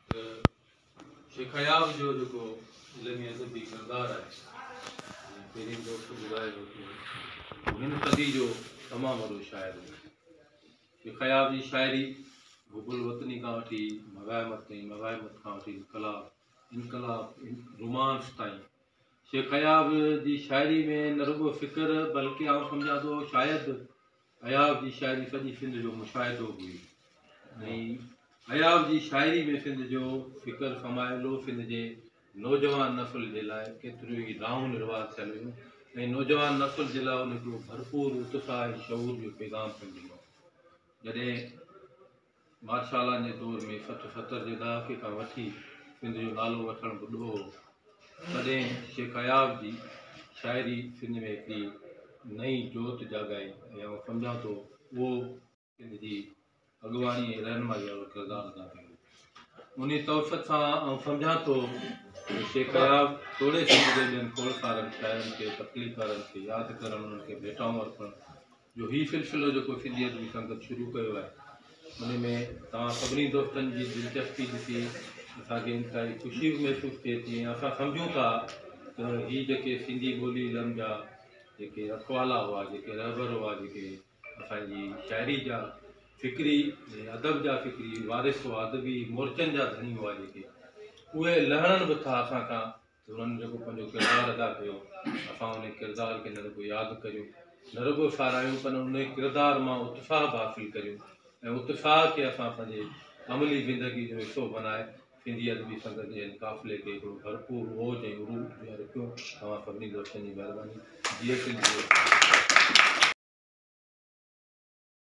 ته شيخ اياز جو جيڪو علمي ادبي ڪردار آهي جيئن پهرين دوست ٻڌايو هو ته هو هن صدي جو تمام وڏو شاعر هو. شيخ اياز جي شاعري حب الوطني کان وٺي مغايمت تائين، مغايمت کان وٺي انقلاب، انقلاب رومانس تائين شيخ اياز جي شاعري ۾ نه رڳو فڪر بلڪه آئون سمجهان ٿو شايد اياز جي شاعري سڄي سنڌ جو مشاهدو هئي ۽ اياز جي شاعري ۾ سنڌ جو فڪر سمايلو سنڌ جي نوجوان نسل جي لاء ڪيتريون ئي دانهون نروار ٿيل هيون ۽ نوجوان نسل جي لاء ان هڪڙو ڀرپور اتساهه ۽ شعور جو پيغام پڻ ڏنو جڏهن مارشالان جي دور ۾ سٺ ستر جي ڏهاڪي کان وٺي سنڌ جو نالو وٺڻ به ڏوهه هو. تڏهن شيخ اياز جي شاعري سنڌ ۾ هڪڙي نئين جوت جاڳائي ۽ آئون سمجهان ٿو اهو سنڌ جي اڳواڻي ۽ رهنمائي وارو ڪردار ادا ڪيو. انهي توسط سان آئون سمجهان ٿو ته شيخ اياز توڙي سنڌ جي ٻين کوڙ سارن شاعرن کي، تخليقڪارن کي ياد ڪرڻ، انهن کي ڀيٽائون ارپڻ، جو هي سلسلو جيڪو سنڌيت جي سنگت شروع ڪيو آهي ان ۾ توهان سڀني دوستن جي دلچسپي ڏسي اسان کي انتهائي خوشي به محسوس ٿئي ٿي ۽ اسان سمجهون ٿا ته هي جيڪي سنڌي ٻولي علم جا جيڪي رکوالا هئا جيڪي رهبر هئا جيڪي اسان جي شاعري جا فڪري ۽ ادب جا فڪري وارث هئا ادبي مورچن جا ڌڻي هئا جيڪي اهي لهڻن به ٿا اسان کان هنن جيڪو پنهنجو ڪردار ادا ڪيو اسان انهي ڪردار کي نه رڳو ياد ڪريون نه رڳو ساراهيون پر انهي ڪردار مان اتساهه به حاصل ڪريون ۽ اتساهه کي اسان پنهنجي عملي زندگي جو حصو بنائي سنڌي ادبي سنگت جي هن قافلي کي هڪڙو ڀرپور اوج ۽ عروج ڏياري رکيون توهان سڀني دوستن جي مهرباني جيئي سنڌ جيئي سنڌ.